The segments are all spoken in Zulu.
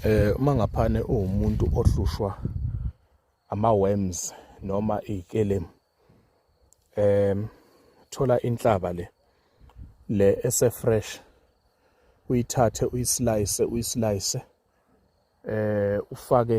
eh uma ngaphane uwumuntu ohlushwa ama worms noma ikelemu em thola inhlaba le le ese fresh uyithathe uyislice uyislice eh ufake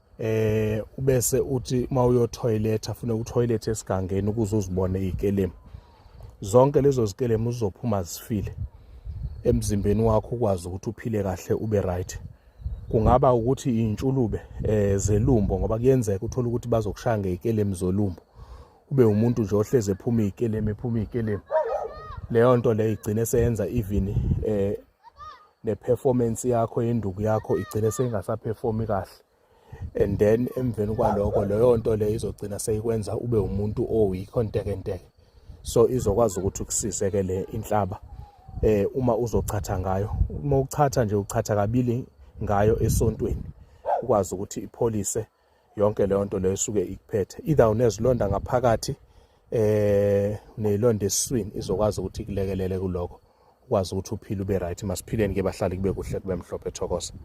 eh ubese uthi uma uyo toilet afune u toilet esigangeni ukuze uzibone ikelemu zonke lezo zikelemu uzophuma zifile emzimbeni wakho ukwazi ukuthi uphile kahle ube right kungaba ukuthi intshulube eh zelumbo ngoba kuyenzeka uthola ukuthi bazokushaya ngezikelemu zolumbo ube umuntu nje ohleze ephuma izikelemu ephuma izikelemu leyo nto leyo igcine seyenza even eh ne-performance yakho yenduku yakho igcine seyingasaperformi kahle and then emveni kwaloko leyo nto leyo izogcina seyikwenza ube umuntu oweak ontekenteke so izokwazi ukuthi ukusise ke le inhlaba eh uma uzochatha ngayo uma uchatha nje uchatha kabili ngayo esontweni ukwazi ukuthi ipholise yonke leyo nto leyo esuke ikuphethe either unezilonda ngaphakathi eh unezilonda eswini izokwazi ukuthi kulekelele kuloko ukwazi ukuthi uphile ube right masiphileni ke bahlali kube kuhle kube mhlophe thokoza